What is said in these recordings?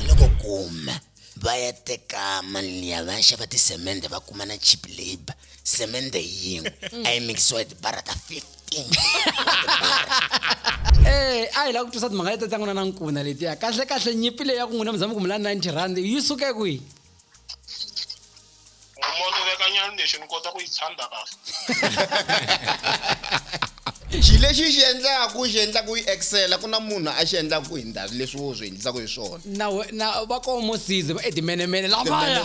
loko kuma va ya teka mali liya va ya xava tisemende va kuma na cheap labor semende yin'we a yi mikisiwa hi tibara ta 15 Eh, a hi lava ku twisa timhaka leti ta n'wina na nkuna letiya kahle kahle nyimpi leyi ya ku n'wina mi zama ku mula 90 rand yi suke kwihi Mbumoto veka nyana lexi ni kota ku yi tshanda kahle. xi lexi xi endlaku xi endlaku yi excela ku na munhu a xi endlaku hi ndhazi leswi wo swi endlisaku hi swona na na va ko mosize va etimenemene lavaya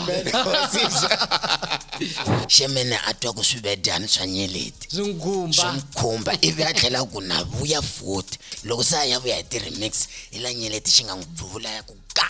xemene a twa ku swivedyani swa nyeleti swi n'wi khumba swi n'wi khumba ivi a tlhela ku na vuya futhi loko se a ya vuya hi ti-remix hi la nyeleti xi nga n'wi bvuvula ya ku ga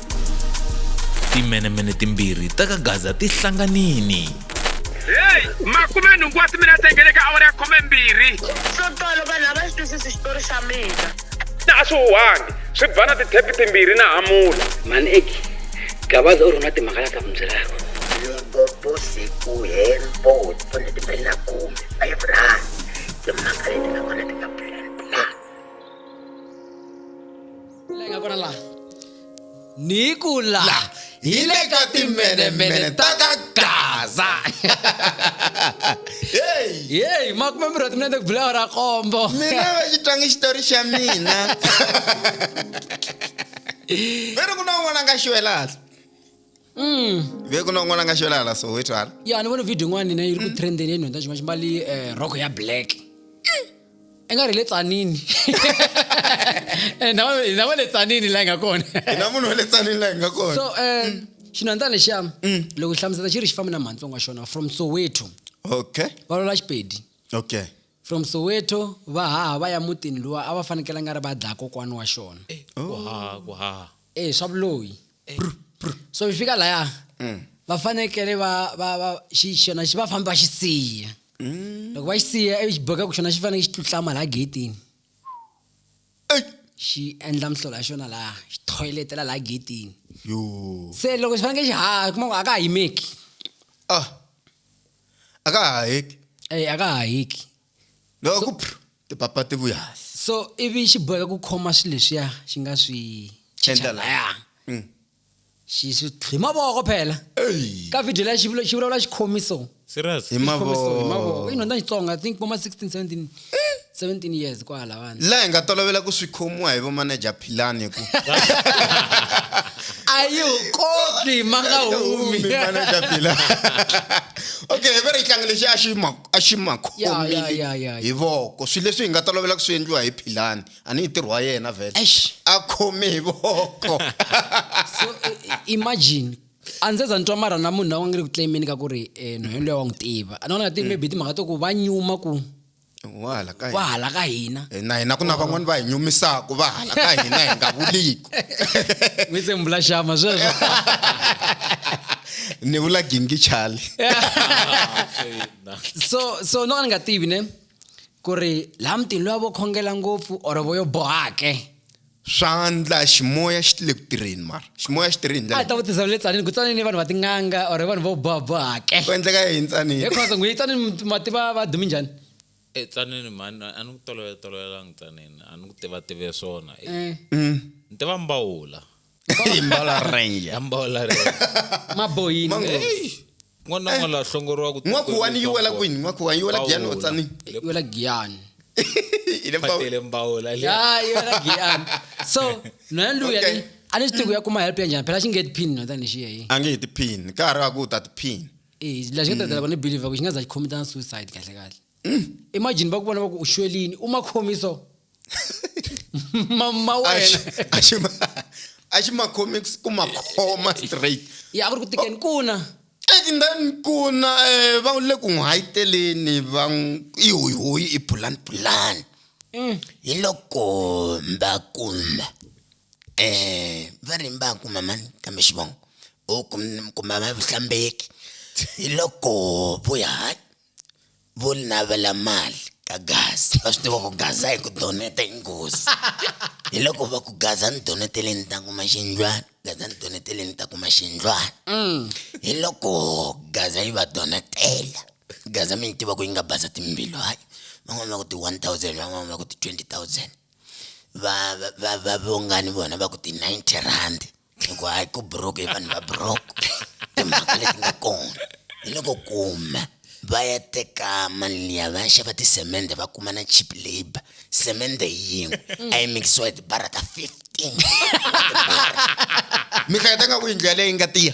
timenemene timbirhi ta ka gaza ti hlanganini heyi makume nhungu wa timinete ngele ka awara ya khome mbirhi swo tolo vanhu a va xi twisisi xitori xa mina na a swi huhangi swi ba na tithepi timbirhi na hamula mani eki gabaza u ri na timhaka la ta n'wi byelaka limpopo siku hempo tone timbirhi na khume five rand timhaka leti nga kona ti nga Lenga kona la. Ni ku la. hi le ka timbenemene ta ka gaza heyi Yeyi, makume mbirhi wa timinete ku bula awara ya kombo. mina va xi twangi xitori xa mina ve ri ku na un'wana a nga xiwelahla mm. vekunon'wana nga xo lahala soweto hala ya ni vona video yin'wana nina yi ri ku mm. trendeni ya nhonda xin'wana ximbali um eh, roko ya black i nga ri le tsanini eh, na va le tsanini laha yi nga kona na munhu wa le tsanini laha yi nga kona so um xinhonda lexiya loko hi hlamusela xi ri xi fambi na mhantsongo wa xona from soweto okay va lola xipedi okay from soweto va haha va ya mutini luwa a va fanekele nga ri va dlaya kokwana wa xona eh, ku haha ku haha e swa vuloyi so fika laya mm. va fanekele va va va xi xona xi va fambi va xi siya mm. loko va xi siya ivi xi boheka ku xona xi fanele xi tlutlama laha getini xi endla mihlola ya xona laha xi thoyletela laha getini se loko xi fanekele xi haha kuma ku a ka ha yimeki ah. a ka ha heki a ka ha heki loko ku tipapa ti vuya so ivi xi boheka ku khoma swilo leswiya xi nga swi endla laya mm. xi swi hi mavoko phela ka video leya xi vulavula xi khomi so serious hi mavoko i nhonda xitsonga i think voma 16 17 17 years kwala vanhu la hi nga tolovela ku swi khomiwa hi vomanager philani ku a yi koti ma nga humi manager philani okay hi ve ri tlanga lexi a xi a xi ma khomile hi voko swilo leswi hi nga tolovela ku swi endliwa hi philani a ni yi ntirho wa yena vhele a khome hi voko so imagine a ndzi za ni twa mara na munhu na wa nge ri ku tlemeni ka ku ri eh, no yendlo ya wa n'wi tiva a ni vona ti mm. maybe timhaka to ku va nyuma ku wa hala ka hina eh, na hina ku na van'wani va hi nyumisaka va hala ka hina hi nga vuliku n'wi se mbula xama sweswo ni vula gingi chali so so no ni nga tivi ne ku ri laha mutini loyi a vo khongela ngopfu or vo yo bohake swandla ximoya xi le ku tirheni mara ximoya xi tirhini a ta vutisa le tsanini ku tsanini vanhu va tin'anga or vanhu vo boha bohake ku endleka yini tsanini hi khosa n'wi tsanini mati va va dumi njhani e tsanini mani a ni ku tolovela tolovelanga tsanini a ni ku tiva tive swona eh. mm. ni tiva mbawula hi mbala renja ambola re maboyini Mango. Hey, n'wana n'wana la hlongoriwa ku n'wakuwani yi wela kwini n'wakuwani yi wela giyani Pawula. otsani yola giyani ile mbawu phatele mbawula le ya yola giyani so nona luya Okay. ni a ni swi tivi ku ya kuma help ya njhani phela xi nge tiphini no tani xiya yi a nge hi tiphini ka ha ri wa ku u ta tiphini eh la xi nga tatela vona believe ku xi nga za xi commit na suicide kahle kahle imagine bakubona baku ushwelini uma khomi so mama wena aximacomics ku makhoma straight ya ku ri ku tikeni kuna and then kuna um va le ku n'wi hayiteleni va i hoyihoyi i pulani pulani mm. hi loko va kuma um va ri va kuma mani kambe xivongo u kuma vavuhlambeki hi loko vuya hayi vo navela mali ka gaza va swi tiva ku gaza hi ku doneta i nghozi hi loko va ku gaza ni doneteleni ta kuma xindlwana gaza ni doneteleni ta kuma xindlwana mm. hi loko gaza yi va donetela gaza mi yi tiva ku yi nga basa timbilu hayi van'wana va ku ti-one thousand van'wana va ku ti-twenty thousand va va va va vongani vona va ku ti-ninety rand hi ku hayi ku broke hi vanhu va broke timhaka leti nga kona hi loko kuma va ya teka mali liya va ya xava tisemende va kuma na cheap labor semende yin'we a yi mikisiwa hi tibara ta fifteen mi hleketa nga ku yindlu yaleyo yi nga tiya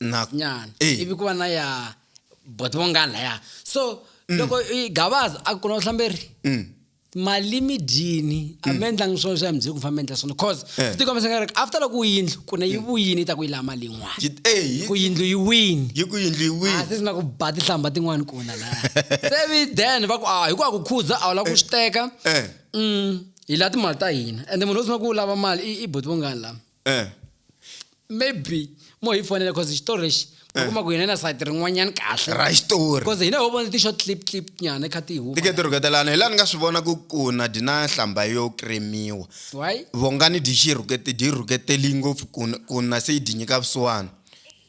Na- nyana Eh. ivi ku va na ya bot vo nga laya so loko i gavaza a ku na vuhlamberi Mm. mali mi dyini a mi endlangi swona swa muziki ku famba endla swona cause Eh. swi tikomisa nga ri after loko yindlu ku ne yi vuyini yi ta ku yi laha mali yin'wana Yi- eh, yi- ku yindlu yi wini yi ku yindlu yi a wini se sina ku ba tihlamba tin'wani kona la se vi then va ku a hikuva ku khuza a wu lava ku swi teka Eh. Mm, hi la timali ta hina ende munhu wo sungula ku lava mali i- i boti vongani la eh maybe mo hi fonela because xitori lexi eh. kuma ku hina na sayiti rin'wanyana kahle ra xitori because hina ho vona ti-short clip clip nyana kha ti huma tike ti rhuketelana hi laha ni nga swi vona ku ku na dyi na hlamba yo kremiwa why vongani dyi xi rhukete dyi rhuketeli ngopfu ku ku na se yi dyi nyika vusiwana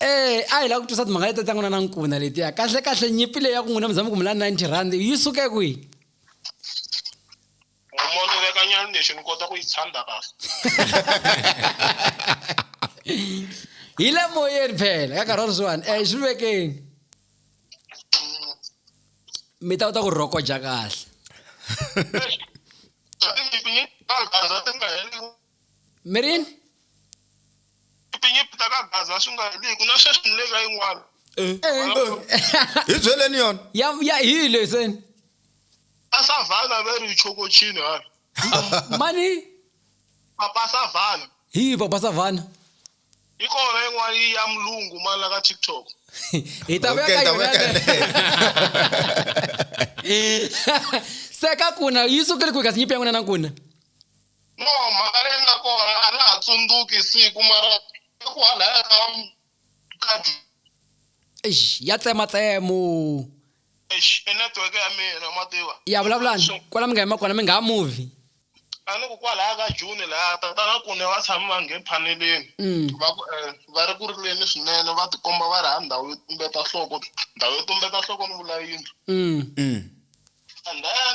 ee a hi lava ku twisa timhaka leti ta n'wina na nkuna letiya kahle kahle nyimpi leyi ya ku n'wina mi zama ku mi la 90 rand yi suke kwihi mono vekanyani lexi ni kota ku yi tshanda kahle hi le moyeni phela ka nkarhi wa sweswiwani um swi vekeni mm. mi ta kota ku rhokoja kahle mirini tinyimpi ta ka gaza swi nga heliku na sweswi ni le ka yin'wana eh. hi byeleni yona ya ya hi leseni a savana ve ri chokochini hala mani papa savana hi papa savana yi kona yin'wana yi ya mulungu mani la ka tiktok hi ta vuya ka yona se ka kuna yi sukele kwihi kasi nyimpi ya n'wina na kuna No, mhaka leyi nga kona a na ha tsundzuki siku mara eku halaya ka ka eish ya tsematsemo eish i network ya mina ma tiva ya vulavulani So- kwala mi nga yima kona mi nga ha muvi a ni ku kwalaya ka june laya tatana kune va tshame va nghe phaneleni Mm. va ku eh, va ri ku rileni swinene va tikomba va ri ha ndhawu yo tumbeta nhloko ndhawu yo tumbeta nhloko ni vula yindlu Mm. and then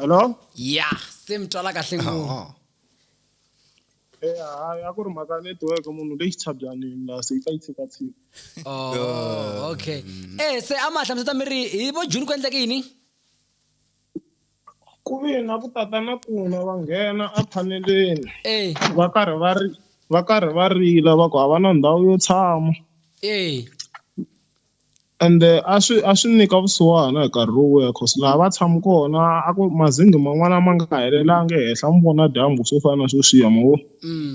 hello ya se mi twala kahle ngopfu Eh, hayi a ku ri mhaka network munhu leyi xitshabyanini la se yi ta yi tshikatshika oh okay eh se a ma hlamuseta mi ri hi vo june ku endleke yini Ku ve na ku tata na kuna va nghena ephaneleni Ey, va karhi va ri va karhi va rila va ku a va na ndhawu yo tshama ey, ende a swi a swi nyika vusiwana hi nkarhi lowu ya cause laha va tshama kona a ku mazenge man'wana ma nga helelangi ehenhla mi vona dyambu swo fana na sweswiya ma vo mm,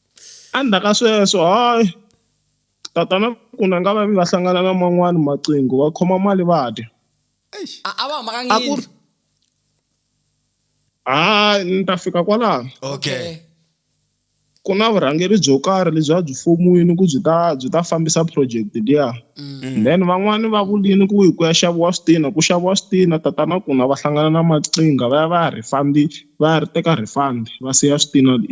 Endzhaku ka sweswo hayi tatana ku na nga va va hlangana na man'wani maqingo va khoma mali va dya a a va hambakanga a ku yindlu ri hayi ni ta fika kwalaho okay ku na vurhangeri byo karhi lebyi a byi fomiwini ku byi ta byi ta fambisa project liya Mm. then van'wani va vulini ku ku ya xaviwa switina ku xaviwa switina tatana ku na va hlangana na maqinga va ya va ya refund va ya ri teka refund va siya switina le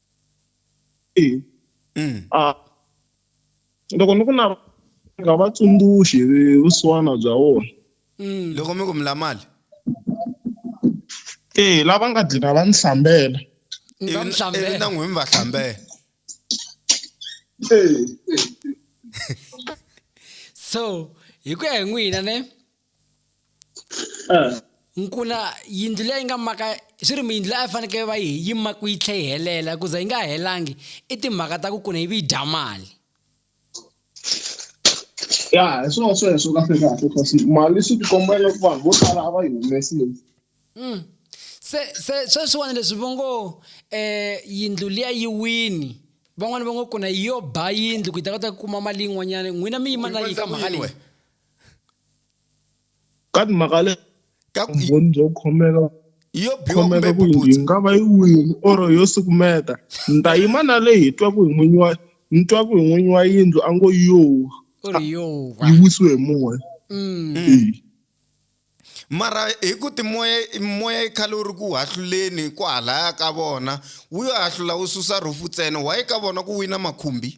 Mm. Ah, loko ni ku na nga va tsundzuxi hi vusiwana bya wona Mm. loko mi ku mi la mali e lava nga dlina va ni hlambela Ni va mi hlambela. ivi na n'wina mi va hlambela so hi ku ya hi n'wina ne eh. nkuna yindlu leyi nga maka swi ri miyindlu leyi a fanekele va yi yi maku yi tlhe yi helela ku za yi nga helangi i timhaka ta ku kuna yi vi yi dya mali ya hi swona sweswo kahle kahle kasi mali swi tikomba loko vanhu vo tala a va yi humesile mm. se se sweswiwani leswi vo ngo um eh, yindlu liya yi wini van'wani va ngo kuna yi yo ba yindlu ku yi ta kota ku kuma mali yin'wanyana n'wina mi yima na yi ka mhaka leyi ka timhaka le ka ku vumbhoni byo khomeka yo biwa kumbe khomeka ku yi puputsa nga va yi wini or yo sukumeta ni ta yima na leyi hi twaku hi n'winyi wa ni twaku hi n'winyi wa yindlu a ngo yo u ri yo va yi wisiwe hi moya Mm. Eyi. mara hi ku timoya moya yi khale wu ri ku hahluleni ku halaya ka vona wu yo hahlula wu susa rhufu ntsena waye ka vona ku wina makhumbi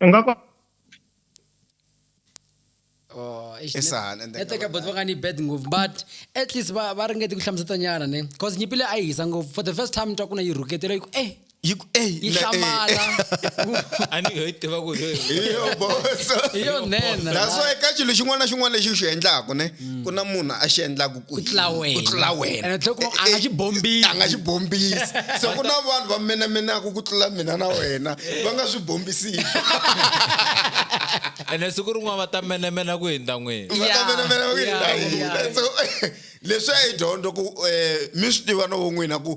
u nga ko Oh, eish, Yes, net- ah, and then- network ya bot va nga ni bad ngopfu but at least va va ringete ku hlamuseta nyana ne cause nyimpi leyi a yi hisa ngopfu for the first time ni twa ku na yi rhuketela yi ku eh Yi ku- ey, yi na- ey. hlamala a ni ho yi tiva ku hi Yo, boss. hi yo nhenha That's why ka xilo xin'wana na xin'wana lexi u xi endlaku ne ku na munhu a xi endlaku ku tlula wena. ku tlula wena Ene tlhela u kuma a nga xi bombisi. a nga xi bombisi so ku na vanhu va menemenaka ku tlula mina na wena va nga swi bombisiki ene siku rin'wana va ta menemena ku hindza n'wini va ta Yeah, menemena ku yeah, hindza hina. yeah. So, leswi a yi dyondzo ku um mi swi tiva no vo n'wina ku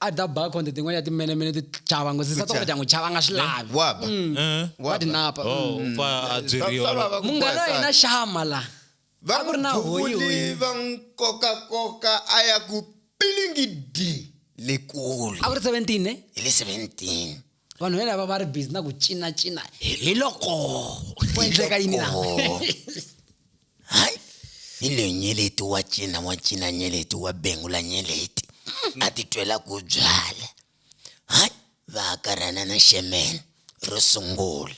a da ba khonde tin'wana ya timenemene ti chava ngo sisa toko dyangu chava nga swi lavi waba Eh? wa dinapa Oh, u pfa a byeriwa Swa vava ku munghana wa boha hina sandza. xama la va a ku ri na n'wi hoyi duvuli hoyi va n'wi kokakoka a ya ku pilingidi le kule a ku ri 17 ne hi le 17 vanhu va lava va ri busy na ku cinacina hi loko ku endleka yini na hayi hi leyo nyeleti wa cina wa cina nyeleti wa bengula nyeleti a titwela ku byala hayi va hakarhana na xemene ro sungula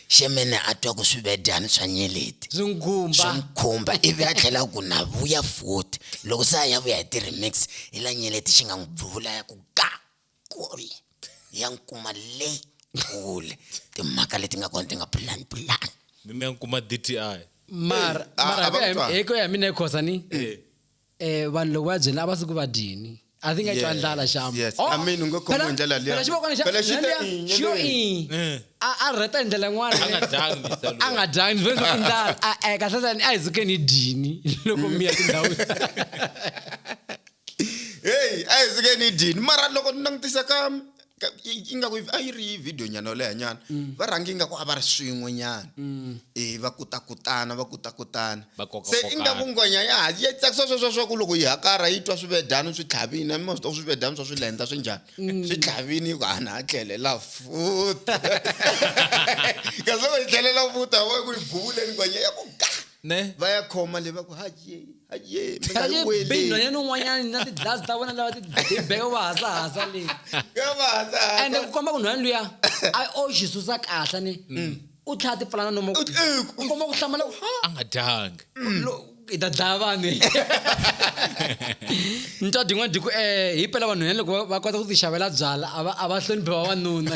xemene a twa ku swivedyani swa nyeleti swi nkhumba ivi a tlhela ku na vuya futhi loko se a ya vuya hi ti-remix hi la nyeleti xi nga n'wi bvuvula ya ku ka kule ya n'wi kuma le kule timhaka leti nga kona ti nga pulani pulani mi mi ya n'wi kuma dti mara Eh, a- mara a va hi ku ku ya- twa. hi ku ya hi mina khosa ni Eh. eh vanhu loko va byela a va suku va dyini i think a twa Yes, ndlala xama yes. Oh, I mean, u nge khomiwi phela- hi ndlela liya. phela xivokwana xa- Phela xi te liya- i, xi yo i. nyelweni. Eh. a a rheta hi ndlela yin'wana A nga dyangi mhisa loyi. a nga dyangi vhe i ndlala a- a- kahlesani a hi sukeni hi dyini loko mi ya tindhawini heyi a hi suke ni dyini mara loko ni langutisa ka ingaku a yi ri video nyana yo leha nyana mm. va rhangi ingaku a va ri swin'we nyana mm. e va kutakutana va kutakutana se ingaku ngwenya ya ha yi tsakisa sweswo swa ku loko yi hakara yi twa swivedani swi tlhavini a mi swi twa swivedani swa swilendla swi njhani mm. swi tlhavini yi ku hana a tlhelela futa kasi loko yi tlhelela futa wa ku yi buvuleni ngwenya ya ku ga ne va ya khoma le va ku haje haje mi nga yi weli binhwanyana un'wanyana na ti-glass ta vona lava tibibeko va hasahasa leyi ya va hasahasa ende ku komba ku nhwanyana luya a o xi susa kahle ni mm. u tlhaya ti pfalana nomo u komba ku hlamala ku ha a nga dyanga hi ta dlaya vanhu ni twa din'wana diku um eh, hi pela vanhu hene loko va kota ku ti xavela byala a va hloniphi vavanuna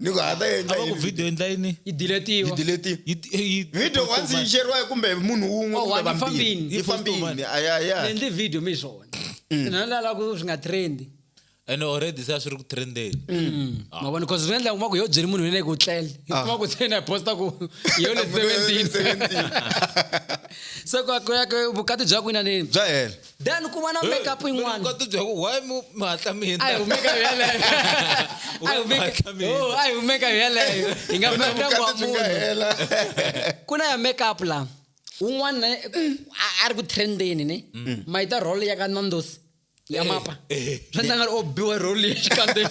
ni ku ha ta endla a va ku yini video endla yini yi diletiwa yi delete Yi- yi- video post once over. yi sheriwa kumbe munhu wun'we Oh, kumbe one, yi vambirhi fambini. yi fambini a ya ya ni endli video mi swona na lala ku swi nga trendi and already se a swi ri ku trendeni mavona because swi endla kuma ku yo byeli munhu yena ku tlele hi kuma ku se na posta ku yo le 17 se ku ya ku ya ku vukati bya ku ina nini bya hela then ku va na makeup yin'wana ka tibya ku why mu mi hatla mi hindza a hi humeka hi yeleyo a hi humeka oh a hi humeka hi yeleyo hi nga famba ndyangu wa munhu ku na ya makeup la un'wana a ri ku trendeni ne mm. ma yi ta role ya ka nandosi ya eh, mapa eh, eh. swa ndla nga ri o biwa role ya xikandzeni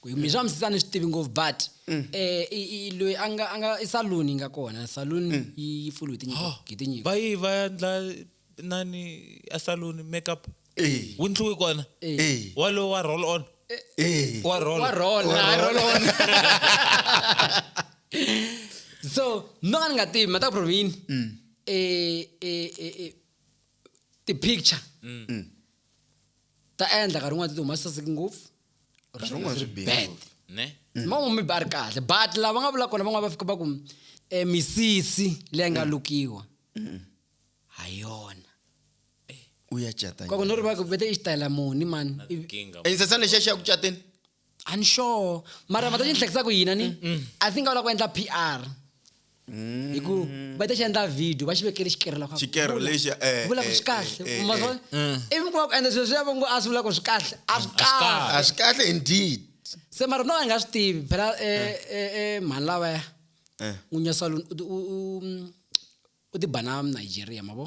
ku hi swa misisa ni swi tivi ngopfu but mm. eh i, i loyi a nga a nga i saloon yi nga kona saloon mm. yi yi pfuriwe tinyiko hi tinyiko va yi va endla nani a saloon makeup eh wu ndliwe kona eh, eh. walowo wa roll on eh, eh. wa roll wa roll wa roll on so no ni nga tivi mata provini mm. eh eh eh ti picture ta endla ka rin'wana ti humasa siki ngopfu Nkarhi Swi wun'wana swi ri bihe bad. ngopfu. ne mama mi ba ri kahle but lava nga vula kona van'wana va fika va ku eh, misisi leyi nga lukiwa ha yona u ya cata kwaku no ri va ku vete i xitayela muni mani Ivi- kinga insesana lexiya xi ya ku cateni a ni sure mara mata xi ni hlekisa ku yina ni i think a wu lava ku endla p r hi ku va ta xi endla video va xi vekele xikerelo kha Xikerelo vula. lexi, eh, vula ku eh, swi kahle eh, eh, ma swi vona? ivi ku va ku endla swilo swi ya va ngo a swi vula ku swi kahle a swi kahle a swi kahle indeed se mara no a hi nga swi tivi phela eh, eh, eh, mhani lavaya Eh. n'winyi wa salon u ti- u- u- u ti bana nigeria ma vo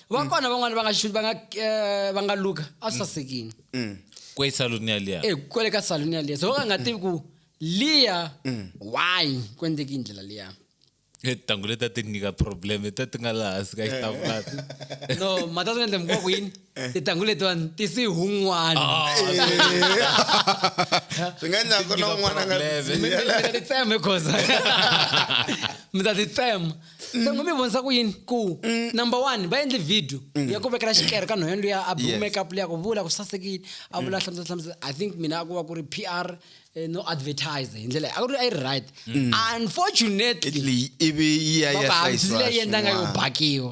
va kona van'wani va nga xi- va nga eh, va nga luka a swi sasekini ku esaluni yaliya e kwale ka saluni yaliya so va ka nga tivi ku liya why ku endleki hi ndlela liya tintangu leti a ti nyika problem leti a ti nga laha hansi ka xitafulati no mata swi endle mikuva ku yini tintangu letiwani ti si hun'wana swi nga endla ku na un'wana a nga Problem. mi mi- mi ta ti tsema goza mi ta ti tsema se ngo mi vonisa ku yini ku number one va endli video ya ku vekela xikere ka nhwendo ya a Yes. make up leya ku vula ku sasekile a vula hlamusela hlamusela i think mina a ku va ku ri p r eh, no advertise hi ndlela leyi. a ku ri a yi ri right unfortunately italy ivi yi ya va ya va hambisile hlayisiwa yi endla nga yo swin'wana. bakiwa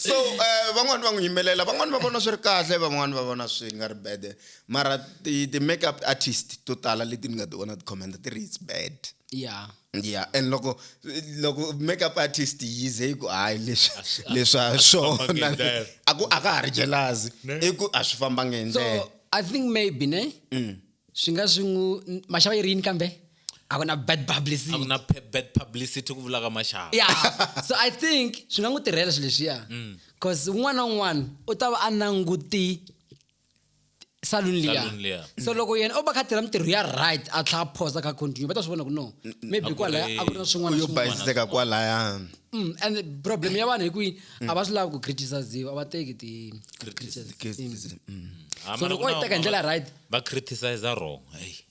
so um van'wani va n'wi yimelela van'wani va vona swi ri kahle van'wani va vona swi nga ri bad mara ti-make up artist to tala leti ni nga ti vona ti-commenta ti ri it's bad ya ya and loko loko make up artist yi ze yi ku hayi leswi leswa swona a ku a ka ha ri jelazi i ku a swi fambanga hi ndlela so i think maybe ne mm. swi nga swi n'wi maxava yi ri yini kambe a ku na bad publicity a ku na bad publicity ku vulaka maxaka ya so i think swi nga n'wi tirhela swilo leswiya because mm. un'wana na un'wana u ta va a languti salon liya so loko yena o va kha tirha mintirho ya right a tlha phosa ka continue va ta swi vona ku no maybe kwalaya a ku na swin'wanayo bayisiseka kwalaya mm, and problem ya vanhu hi kwihi a va swi lavi ku criticiziwa a va teki ti mm. so loko o yi teka hi ndlela right va criticize wrong hey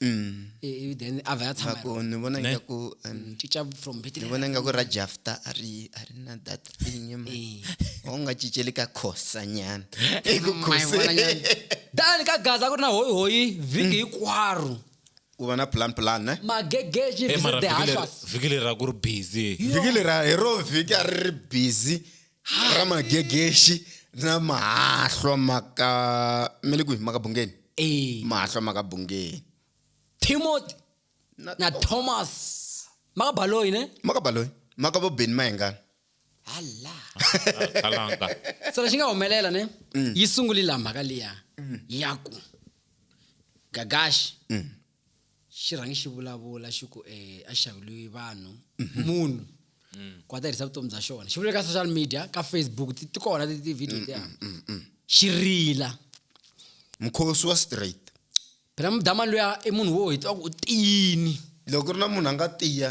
Mm. i- ivi then a vhe a tshama hi Ngaku, ni vona Ne? ingaku um, rona. cinca from ni Bethlehem. vona ingaku ra jafta a ri a ri na that thing ma Eh. u nga cinceli ka khosa nyana eku Ma yi vona khoseni nyana. tani ka gaza ku ri na hoyihoyi vhiki hinkwaro ku va na plan plan ne magegeji Eh, mara visit the vhiki leri- hashas vhiki leri a ku ri busy vhiki lera hi ro vhiki a ri ri busy ra magegexi na mahahlwa maka mi le kwihi maka bungeni ee mahahlwa maka bungeni timothy na, na thomas maka baloyi ne maka baloyi maka vo beni mayengana hala khalanga so lexi nga humelela ne yi sunguli laha mhaka liya ya ku gagaxi xi rhangi xi vulavula xi ku um a xaveliwi vanhu mhm. munhu mm. ku a ta vutomi bya xona xi vule ka social media ka facebook ti kona ti-video tiya mm, mm, xi rila mukhosi wa straight phela mudamani luya i munhu wo hi tiva ku u tiyini loko ku ri na munhu a nga tiya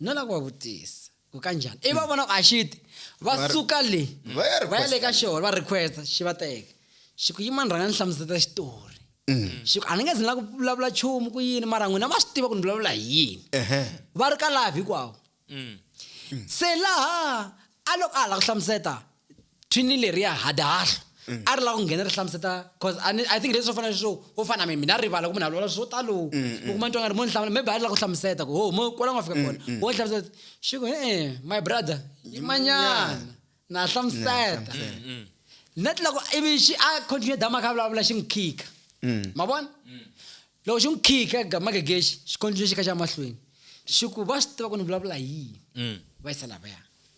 no lava ku va vutisa ku ka njhani ivi va vona ku a xi ti va Va ri- suka le va ya va ya le ka requesta. xona va requesta xi va teka xi ku yimani rhanga ni hlamuseta xitori xi ku a ni nge zi ni la ku vulavula nchumu ku yini mara n'wina ma swi tiva ku ni vulavula hi yini Ehhe. va ri ka lavi hikwavo se laha a loko a ha la ku hlamuseta thwini leriya hadahlo mm. a ri lava ku nghena ri hlamuseta cause i think leswi swo fana leswo wo fana mi mina rivala ku munhu a lwala swo talo u mm, mm. kuma ntwa nga ri mo ni hlamula maybe a ri lava ku hlamuseta ku ho mo kwala nga fika kona wo ni hlamuseta xi ku e-e my brother yimanyana na hlamuseta na ti loko ivi xi a continue dama kha vulavula xi n'wi khika ma vona loko xi n'wi khika magegexi xi continue xi kha xa mahlweni xi ku va swi tiva ku ni vulavula yini va yisa lavaya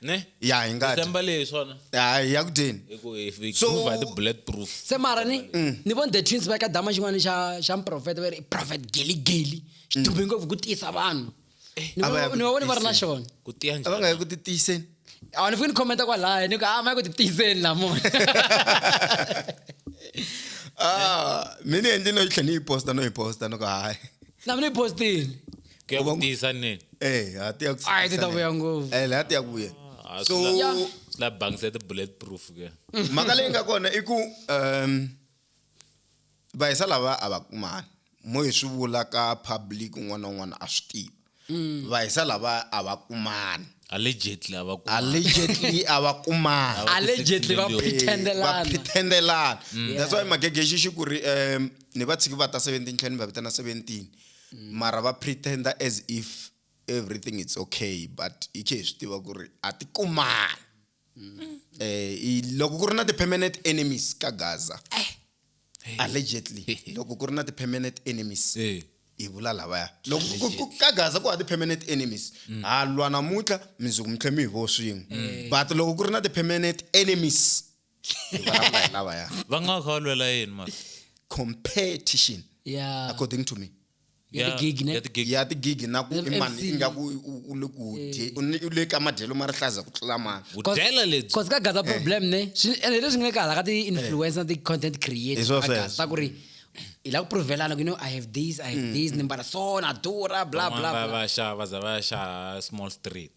ne ya hi ngati December leyi swona ya hi ya ku dyeni hi ku hi hi So- prove the bullet proof se mara ni Mm. ni vone the twins va ka dama xin'wana xa xa mprofeta va ri i prophet geli geli xi dume ngopfu ku tiyisa vanhu Ni Mm. a va ya va- ku ni va vone va ri na tiyiseni. xona ku tiya a va nga njhani yi ku titiyiseni a ni fiki ni khomenta kwalaya ni ku a ma yi ku titiyiseni lamona Ah, mi ni endli no yi tlhe ni yi posta no yi posta no ku hayi na mina yi postile ku ya ku tiyisa nini eh ha ti ya ku a yi ti ta vuya ngopfu eh la ti ya ku vuya Ah, so swi la- swi la banks ya ti-bullet proof ke mhaka leyi nga kona i ku um vahisa lava a va kumani mo hi swi vula ka public un'wana na un'wana a swi tivi Mm. vahisa lava a va kumani allegedly a va ku allegedly a va kumani allegedly va million. Eh, va pretendelana pretendelana that's why magegexi xi ku ri um ni va tshiki va ta 17 tlhela ni va vitana 17 mara va pretender as if everything it's okay but hi khe hi swi tiva ku ri a ti kumani um loko ku ri na ti-permanent enemies ka gaza allegedly loko ku ri na ti-permanent enemies Eh. hi vula lavaya loko ku- ku- ku- ka gaza ku ha ti-permanent enemies ha lwa namuntlha mindzuku mi tlhe mi hi vo swin'we but loko ku ri na ti-permanent enemies Hi vulavula hi lavaya va nga va kha va lwela yini mara competition ya according to me ya Ya- ti-gig, ne? ya ti-gig. ya tigigi na ku i mani i nga ku u- u le ku dye- u ni- u le ka madyelo ma rihlaza ku tlula mani vudyela lebyi cause ka gaza problem ne swi ende leswi nga le ka hala ka ti-influencer na ti-content Hi creator swo ka sweswo. gaza ku ri hi la ku provelana ku you know i have this i have this ni mbala so na durha bla bla Van'wana va bla va xava za va ya xava small street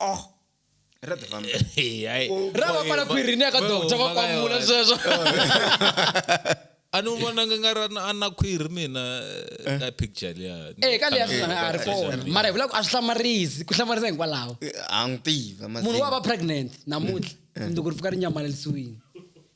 Oh. Ra the family. Hey, ai. ra va pfala khwiri ni ya ka Boy, doctor va mhaka kwamula yona. sweswo a ni vonanga nga ra na- a na khwiri mina eh, ka picture liya e ka leya sweswi a ri kona mara hi vula ku a swi hlamarisi ku hlamarisa hinkwalaho A n'wi tiva munhu wa mazinga. va pregnant namuntlha mundzuku ri fika ri nyamalalisiwile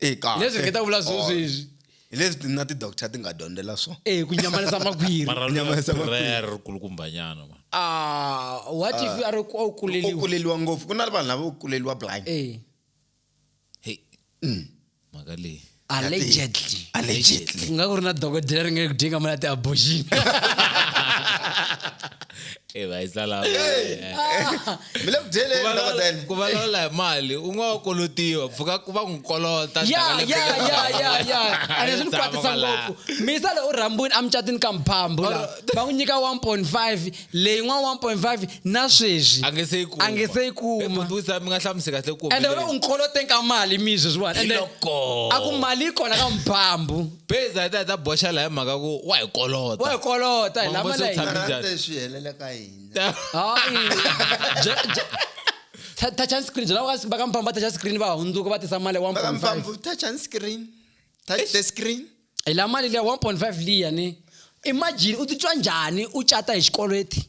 Eka. leswi ri keta vula sweswi hi leswi ti- na ti-doctor ti nga dyondzela swona e ku nyamalisa makhwiri Mara Nyamalisa makhwiri. prayer ri kulukumbanyana man. ah what if a ri ku a wu u kuleliwa kuleliwa ngopfu ku na vanhu lava u kuleliwa blind eh Hey. Mm. mhaka leyi allegedly allegedly ku nga ku ri na dokodela ri nga ku dinga mali ya ti-abortion Eh, va yi tsala mi le ku dyeleni Ku valawula- dokodela ku valawula hi mali u nga wa kolotiwa pfuka ku va n'wi kolota ya taka le ya bengeni. ya ya ya and swi ni Tshama kwatisa kwala. ngopfu misa lowu rhambwini a mucatini ka mphambu la va n'wi nyika 1.5 leyi n'wana 1.5 na sweswi a nge se yi kuma a nge se yi kuma Eh, but wisa mi nga hlamusi kahle ku ende wena u ni koloteni ka mali mi sweswiwani ende Hiloko. a ku mali yi kona ka mphambu base a yi ta yi ta boxa laha hi mhaka ku wa hi kolota wa hi kolota hi Mambo lama se na u tshame- hina Rhandze swi helela ka hina hayi Bya- bya- ta- touch and screen byela va ka mpfambo va touch and screen va hundzuka va tisa mali ya 1.5 vakampfamvu touch and screen touch the screen hi la mali liya 1.5 liya ni imagine u titwa njhani u cata hi xikweleti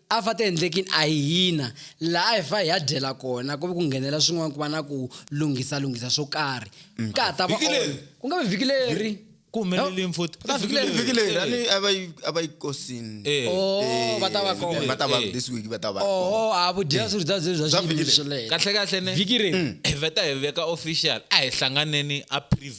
a fa tiendlekini a hi hina laha hi fa hi ya dyela kona ku ve ku nghenela swin'wana ku va na ku lunghisa lunghisa swo karhi mm. ka ha ta va ku nga vi vhiki leri ku humelele mfuti ka vhiki leri vhiki leri a ni a va yi a va yi kosini eh. oh eh, va ta va kona va ta va eh. this week va ta va oh a vu dya swirho bya bya bya xilele kahle kahle ne vhiki leri mm. hi veta hi veka official a hi hlanganeni a preview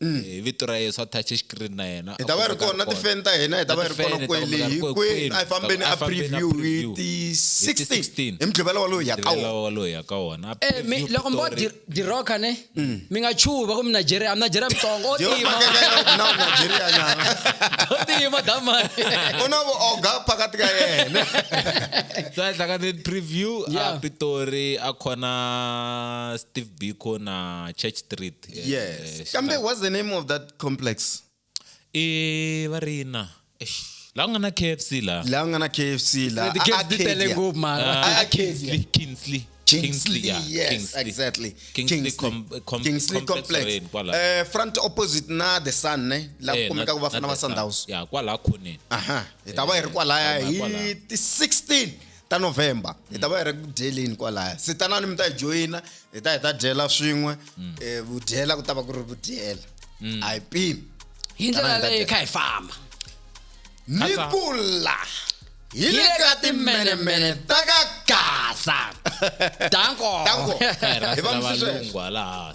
mm. eh, vito ra yesu a touch xikirini na yena hi ta va ri kona na tifeni ta hina hi ta va ri kona kwele hinkwenu a hi fambeni a preview hi ti-16 hi mudlivela walowo hi ya ka wonawalowo hi ya ka wona eh, loko mi vo diroka ne mm. mi nga chuva ku mi nigeria nigeria mitsongo o tima o tima damani u na vuoga phakati ka yena so a hlakane preview a pitori a khona steve biko na church street yes kambe what's the name of that complex i va ri na eish, laha ku nga na kfc laha laha ku nga na kfc laha The kids ti tele Arcadia. ngopfu mara. Ah, Ah, Arcadia. Kingsley, Kingsley. Kingsley, yeah, yes, Kingsley. exactly. Kingsley com- com- Kingsley complex complex. or yini kwala. Eh, front opposite na the sun ne la Eh, ku kumeka na- ku vafana na va the Sun. Sundowns. Yeah, kwala khoneni. Aha, hi ta va hi ri kwalaya Eh, hi kwalaya. ti 16 ta november hi ta va hi ri ku dyeleni kwalaya se tanani mi ta hi joyina hi ta hi ta dyela swin'we um vudyela ku ta va ku ri vudyela a hi pimi hi ndlela leyi kha hi famba ni kula hi le ka timenemene ta ka gasa danko danko hi va msisweswe laha